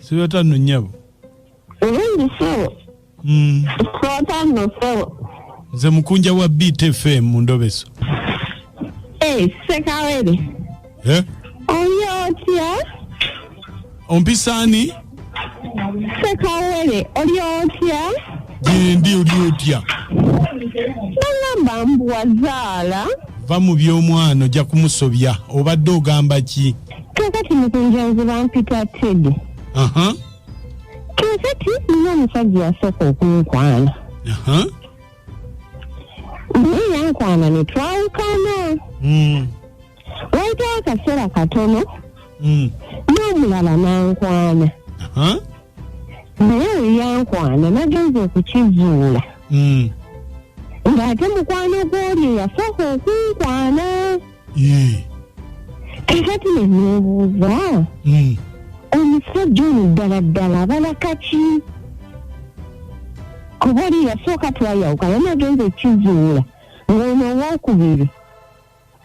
sibata no nyabo hmm. nze mukunja wa btfm mu ndobeso eh, sekawere eh? oyo otya ompisa ani sekawere oli otya gyendi oli otya bagamba mbu wazaala va mu by'omwana ojja kumusobya obadde ogamba ki kakati mukunjanzi bampita tedi kakati nina omusajja yasooka okunkwana naye yankwana ne twawukana mm. wayitawo akaseera katono mm. n'omulala nankwana naye eyankwana nagenza okukizuula mm. ng'ate mukwano gw'oli eyasooka okunkwana Yee. kakati nenebuuza Mm. omusajja ono ddala ddala abala kaki kuba oli yasooka twayawuka naye nagenza ekizuula ng'ono owokubiri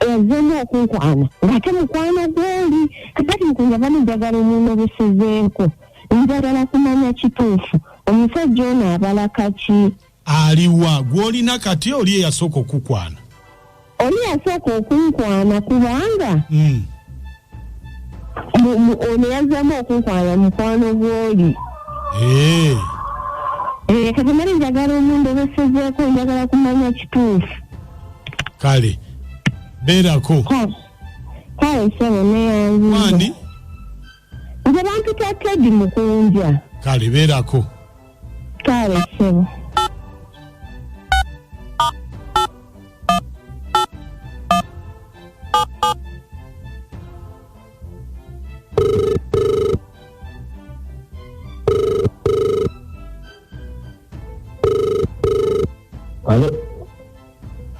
yazemu okunkwana ng'ate mukwano gwoli kakati nkunja bano njagala omuntu obusizeeko njagala kumanya kituufu omusajja ono abala kaki Aliwa gwolina kati oli eyasooka okukwana? Oli yasooka okunkwana kubanga mm. ono yazzamu okunkwana mukwano gwoli hey. Eh. Eh, kati mali njagala omuntu obesezeeko njagala kumanya kituufu kale beerako kale sebo neyanzi nze bampita tedi mukunja kale beerako kale sebo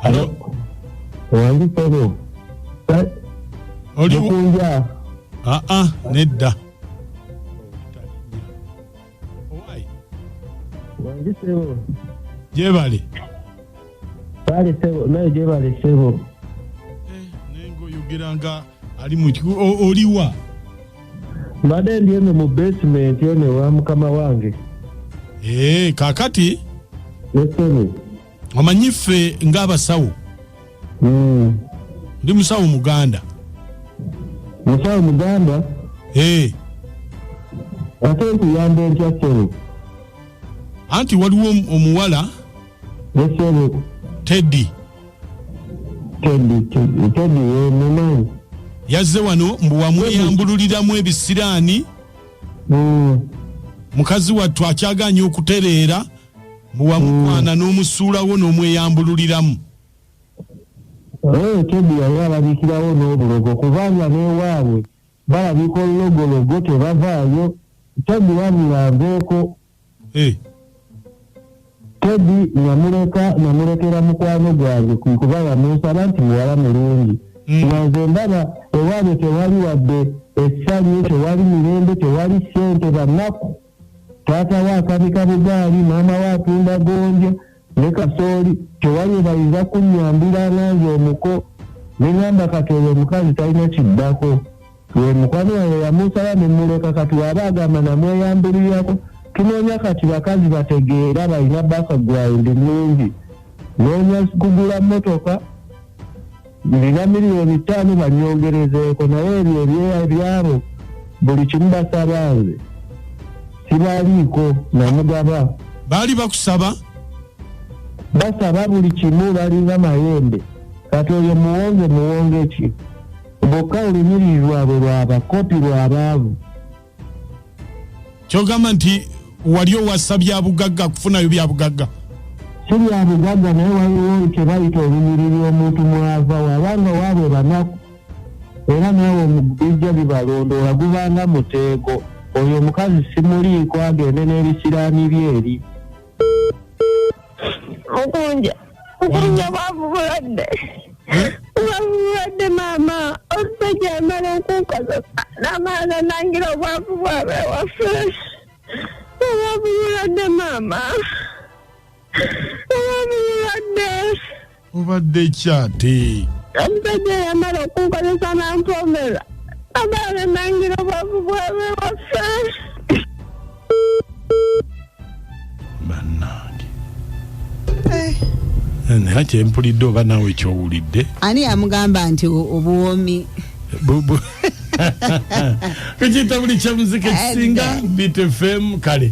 Halo. Wangi sebo. Oli kunja. Ah ah, nedda. Owai. Wangi sebo. Jebali. Bali sebo, nayo jebali sebo. Eh, nengo yogeranga ali mu oliwa. Mbadde ndi eno mu basement eno wa mukama wange. Eh, kakati? Yes, sebo. omanyi ffe ng'abasawo hmm. ndi musawo muganda musawo muganda eh. ate nkuyamba entya sebo anti waliwo omuwala esebo teddy teddy teddy wemumanyi yazze wano mbu wamweyambululiramu ebisiraani hmm. mukazi wattu akyaganya okutereera Mbu wamukwana n'omusuulawo n'omweyambululiramu. Oyo Teddy yali alabikirawo n'obulogo kubanga n'ewaabwe balabika olulogologo tebavaayo. Teddy wabula aveeko. Teddy namuleka namulekera mukwano gwange kwe kuba yamunsaba nti muwala mulungi. Mm. Nga nze ndaba ewaabwe tewali wadde essanyu, tewali mirembe, tewali ssente, banaku. taata we akabika bugaali maama we atunda gonja ne kasooli tewali ebayinza kunnyambira nange omuko neŋamba kati oyo omukazi talina kiddako we mukwano wange yamusaba ne muleka kati waba agamba namweyamburirako tunoonya kati bakazi bategeera balina bakagwawundi mungi noonya kugula mmotoka Ndina miliyoni ttaano banyongerezeeko naye ebyo ebyeya byabo buli kimu basaba nze sibaliiko namugaba. Baali bakusaba? Basaba buli kimu balinga mayembe kati oyo muwonge muwonge ki bokka olunyirirwabwe lwabakopi lwabaavu. kyogamba nti wali owasa byabugagga kufunayo byabugagga si byabugagga naye waliwo kyebayita olunyiriri omuntu mwava wabanga waaba ebanaku era naawe omubijja bibalondoola gubanga muteeko oyo omukazi simuliiko agende n'ebisiraani bye eri mukunja mukunja bwavu bulwadde bwavu bulwadde maama omusajja amala okunkozesa namaana nangira obwavu bwabe waffe obwavu bulwadde maama obwavu bulwadde obadde kyate omusajja yamala okunkozesa nampomera amala nenangira obwavu bwabe waffe bannange eh. eh, naye kyempulidde oba naawe kyowulidde ani yamugamba nti obuwoomi kukiyita buli kyamuzika ekisinga bitfm kale